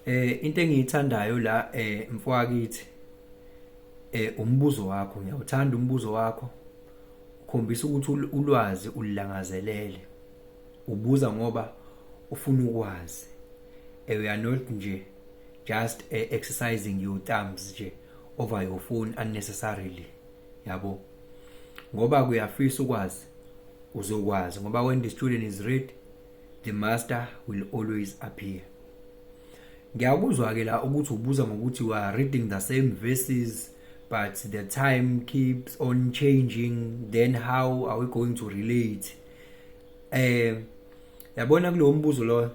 Eh into engiyithandayo la eh mfwakithi eh umbuzo wakho ngiyawuthanda umbuzo wakho ukhombisa ukuthi ulwazi ulilangazelele ubuza ngoba ufuna ukwazi eh, we are not nje just uh, exercising your thumbs nje over your phone unnecessarily yabo ngoba kuyafisa ukwazi uzokwazi ngoba when the student is ready the master will always appear ngiyakuzwa ke la ukuthi ubuza ngokuthi we are reading the same verses but the time keeps on changing then how are we going to relate eh yabona kulowo mbuzo lo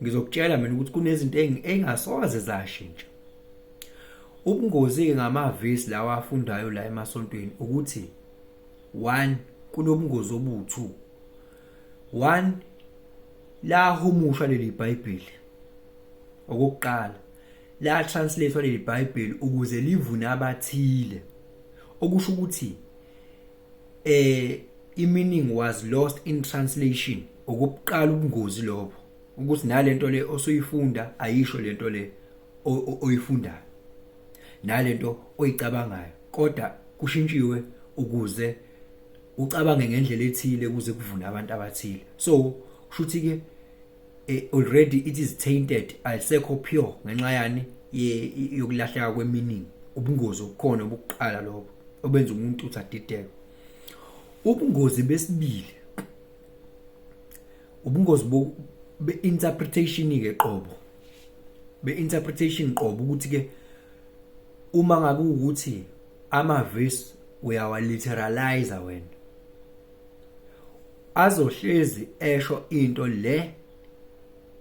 ngizokutshela mina ukuthi kunezinto engasoze zashintsha ubungozi-ke ngamavesi lawa afundayo la emasontweni ukuthi one kunobungozi obu-two one lahumusha leli bhayibheli okokuqala la translate leli bhayibheli ukuze livune abathile okusho ukuthi eh i-meaning was lost in translation okubuqala ubungozi lobo ukuthi nalento le osuyifunda ayisho lento le oyifundayo nalento oyicabangayo kodwa kushintshiwe ukuze ucabange ngendlela ethile ukuze kuvune abantu abathile so kushuthi ke eh, already it is tainted alisekho pure ngenxa yani yokulahleka kweminingi ubungozi obukhona obukuqala lobo obenza umuntu uthi adideke ubungozi besibili ubungozi be interpretation ke qobo be interpretation qobo ukuthi ke uma ngabe ukuthi amavis uyawaliteralize wena azohlezi esho into le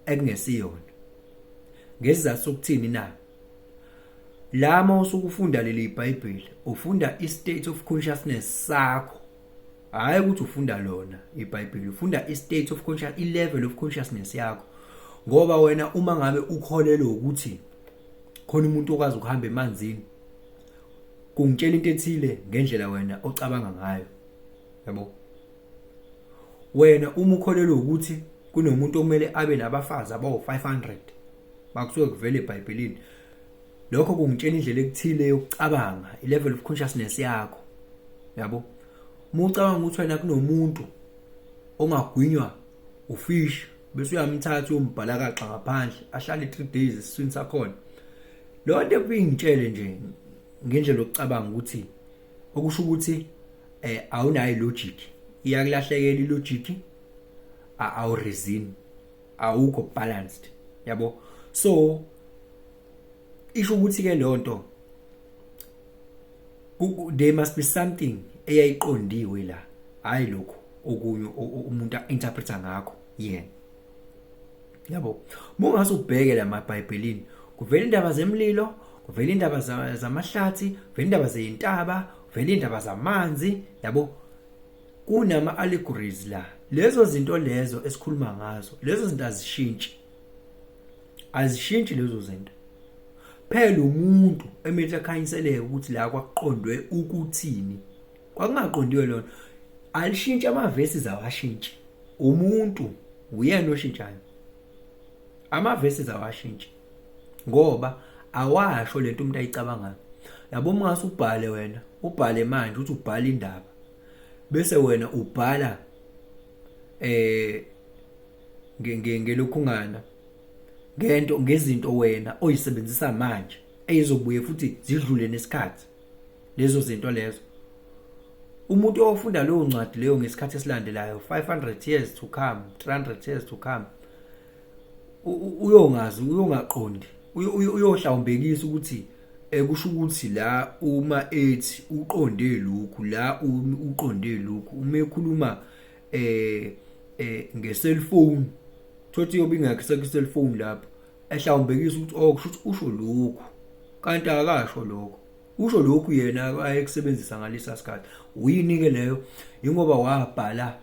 ekungesiyona ngesizathu sokuthini na lama usukufunda leli iBhayibheli ufunda istate of consciousness sakho hayi ukuthi ufunda lona iBhayibheli ufunda istate of conscious ilevel of consciousness yakho ngoba wena uma ngabe ukholelwe ukuthi khona umuntu okwazi ukuhamba emanzini kungitshela into ethile ngendlela wena ocabanga ngayo yabo wena uma ukholelwa ukuthi kunomuntu okumele abe nabafazi abawu-500 makusuke kuvele ebhayibhelini lokho kungitshela indlela ekuthile yokucabanga i-level of consciousness yakho yabo uma ucabanga ukuthi wena kunomuntu ongagwinywa ufish bese uyamthatha uyombhalakaxa ngaphandle ahlale 3 days esiswini sakhona lo nto kuyingitshele nje ngendlela yokucabanga ukuthi okusho ukuthi eh awunayo logic iyakulahlekela ilogic awu reason awukho balanced yabo so isho ukuthi ke leyo nto there must be something eyayiqondiwe la hayi lokho okunye umuntu interpreta ngakho yena yabo mungase ubheke la mabhayibhelini kuvela indaba zemlilo kuvela indaba zamahlathi kuvela indaba zeyintaba kuvela indaba zamanzi yabo kunama allegories la lezo zinto lezo esikhuluma ngazo lezo zinto azishintshi azishintshi lezo zinto phela umuntu emele akhanyiseleke ukuthi la kwakuqondwe ukuthini kwakungaqondiwe lona alishintshe amavesi zawashintshe umuntu uyena oshintshayo amavesi zawashintshe ngoba awasho lento umuntu ayicabangayo yabo mase ubhale wena ubhale manje uthi ubhala indaba bese wena ubhala eh ngelokhungana ngento ngezinto wena oyisebenzisa manje eyizobuye futhi zidlule nesikhathi lezo zinto lezo umuntu ofunda leyo ncwadi leyo ngesikhathi esilandelayo 500 years to come 300 years to come uyongazi uyongaqondi uyohlawumbekisa ukuthi ekusho eh, ukuthi la uma ethi uqonde lokhu la uqonde lokhu uma ekhuluma eh eh ngeselfoni thothi yobe ingakho sekuselfoni lapho ehlawumbekisa ukuthi oh kusho ukuthi usho lokhu kanti akasho lokho usho lokhu yena ayekusebenzisa ngalesa sikhathi uyini ke leyo ingoba wabhala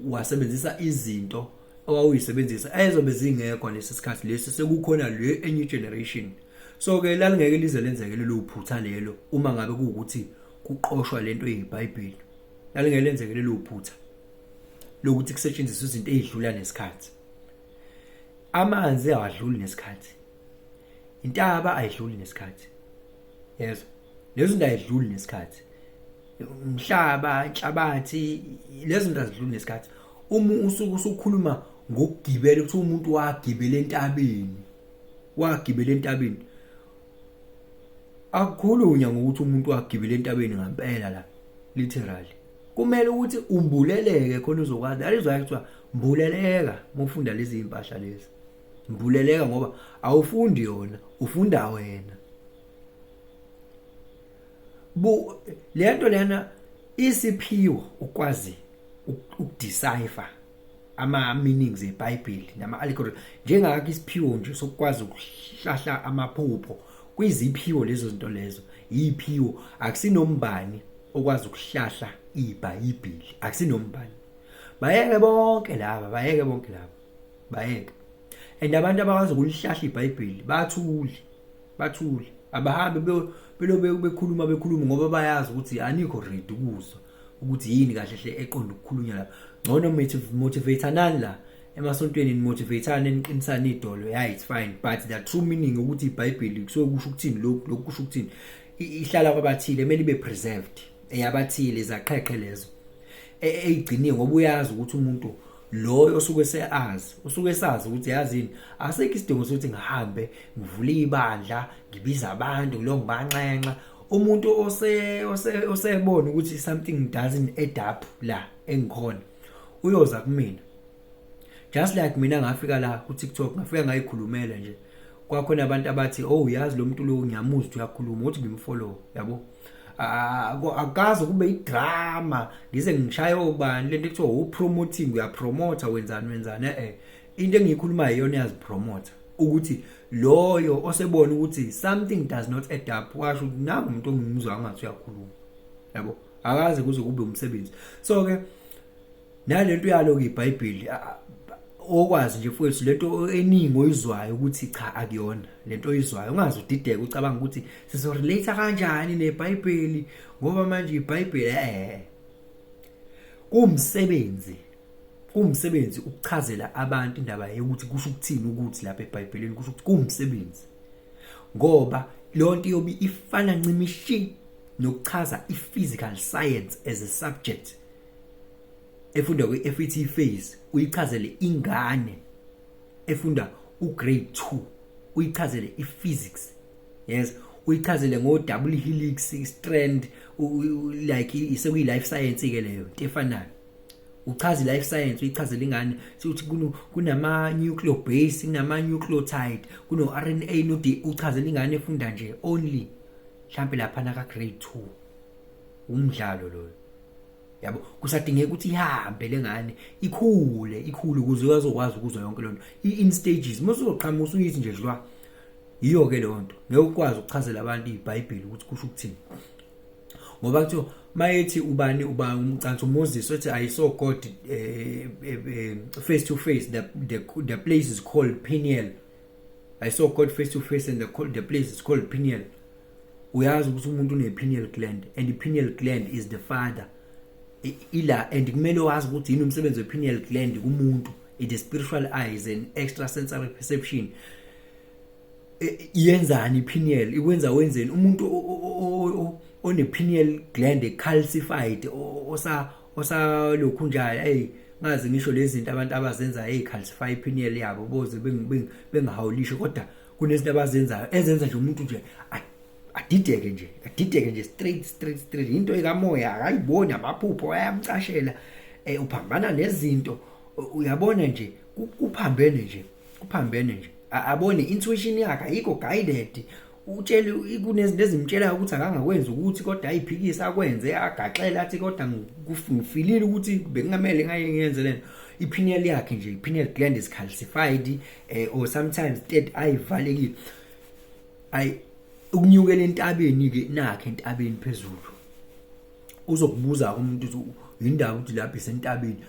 wasebenzisa izinto owawuyisebenzisa ayezobe zingekho nesi sikhathi lesi sekukhona le enye generation so ke lalingeke lize lenzeke lelo phutha lelo uma ngabe kuwukuthi kuqoshwa lento yeBhayibheli lalingelenzeke lelo phutha lokuthi kusetshenziswe izinto ezidlula nesikhathi amanzi awadluli nesikhathi intaba ayidluli nesikhathi yezwa lezo zinto ayidluli nesikhathi umhlaba inhlabathi lezo zinto azidluli nesikhathi uma usuku usukhuluma ngokugibela ukuthi umuntu wagibela entabeni wagibela entabeni akukhulunywa ngokuthi umuntu wagibela entabeni ngampela la literally kumele ukuthi umbuleleke khona uzokwazi alizwayo kuthiwa mbuleleka uma ufunda lezi iy'mpahla lezi mbuleleka ngoba awufundi yona ufunda wena bu le nto lena isiphiwo ukwazi ukudecipher ama-meanings ebhayibheli nama-allegory njengakho isiphiwo nje sokukwazi ukuhlahla amaphupho kwiziphiwo lezo zinto lezo yiphiwo akusinombani okwazi ukuhlahla ibhayibheli akusinombani bayeke bonke laba bayeke bonke laba bayeke and abantu abakwazi ukulihlahla ibhayibheli bathule bathule abahambe belobe bekhuluma bekhuluma ngoba bayazi ukuthi anikho ready ukuzwa ukuthi yini kahle hle eqonda ukukhulunywa lapha ngcono motivatanani la emasontweni nimotivatane niqinisane idolo ya it's fine but the true meaning ukuthi ibhayibheli kusuke kusho ukuthini lokhu lokhu kusho ukuthini ihlala kwabathile kumele ibe preserved eyabathile izaqheqhe lezo e, eyigciniwe ngoba uyazi ukuthi umuntu loyo osuke seazi usuke esazi ukuthi yazini asekho isidingo sokuthi ngihambe ngivule ibandla ngibiza abantu ngilongibanxenxa umuntu ose ose osebona ukuthi something doesn't add up la engikhona uyoza kumina just like mina ngafika la ku TikTok ngafika ngayikhulumela nje kwakhona abantu abathi oh uyazi lo muntu lo ngiyamuzwa uyakhuluma uthi ngimfollow yabo akazi kube idrama ngize ngishaye obani lento ekuthiwa upromoting uyapromota wenzani wenzani eh into engiyikhulumayo iyona iyazipromotha ukuthi loyo osebona ukuthi something does not add up washo ukuthi nangu umuntu ongimuzwa angathi uyakhuluma yabo akaze kuze kube umsebenzi so ke nalento yalo ke iBhayibheli okwazi nje mfowethu lento eningi oyizwayo ukuthi cha akuyona lento oyizwayo ungazi udideke ucabanga ukuthi sizo relate kanjani neBhayibheli ngoba manje iBhayibheli eh kumsebenzi kuwumsebenzi ukuchazela abantu indaba yokuthi kusho ukuthini ukuthi lapha eBhayibhelini kusho ukuthi kuwumsebenzi ngoba lonto yobe ifana ncimishi nokuchaza i-physical science as a subject efunda kwi-FET phase uyichazele ingane efunda ugrade 2 uyichazele i-physics yes uyichazele ngo-double helix strand like sekuyi-life science-ke leyo into efanayo uchaza i-life science uyichazela ingane ukuthi kunama-nucleo base kunama-nucleotide kuno-r n a no-d uchazela ingane efunda nje only mhlawumpe laphana ka-grade two umdlalo loyo yabo kusadingeka ukuthi ihambe lengane ikhule ikhule ukuze uyazokwazi ukuzwa yonke lento i-in stages uma uzoqhamuka usuyithi nje dlwa yiyo-ke leyo nto ngeke ukwazi ukuchazela abantu ibhayibheli ukuthi kusho ukuthini ngoba kuthiwa mayethi ubani uba umcansi umoses uthi i saw god uh, uh, face to face the, the, the place is called peniel i saw god face to face and the, the place is called peniel uyazi ukuthi umuntu une-penial gland and i-penial gland is the father ila and kumele wazi ukuthi yini umsebenzi we-penial gland kumuntu it is spiritual eyes and extrasensory perception yenzani ipineal ikwenza wenzeni umuntu one pineal gland calcified osa osalokhu njalo hey ngazi ngisho lezi zinto abantu abazenza hey calcify ipineal yabo boze bengahawulisho kodwa kunezinto abazenzayo ezenza nje umuntu nje adideke nje adideke nje straight straight straight into ekamoya akayiboni amaphupho ayamcashela eh uphambana nezinto uyabona nje kuphambene nje kuphambene nje abone intuition yakhe ayikho guided utshele kunezinto ezimtshelayo ukuthi akangakwenza ukuthi kodwa ayiphikise akwenze agaxele athi kodwa ngifilile ukuthi bengingamele ngaye ngiyenze lento i-pineal yakhe nje i-pineal gland is calcified eh, or sometimes that ayivalekile ay ukunyukela entabeni ke nakhe entabeni phezulu uzokubuza umuntu ukuthi yindaba ukuthi lapha isentabeni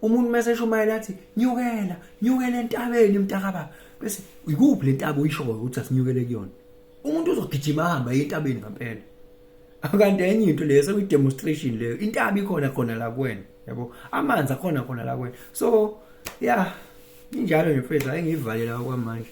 umuntu mese eshumayela athi nyukela nyukela entabeni mntakababa bese ikuphi le ntaba uyishoyo ukuthi asinyukele kuyona umuntu uzogijima ahamba entabeni ngampela akanti enye into leyo sekuyi-demonstration leyo intaba ikhona khona la kuwena yabo amanzi akhona khona la kuwena so ya injalo nje mfethu ayengiyivalela okwamanje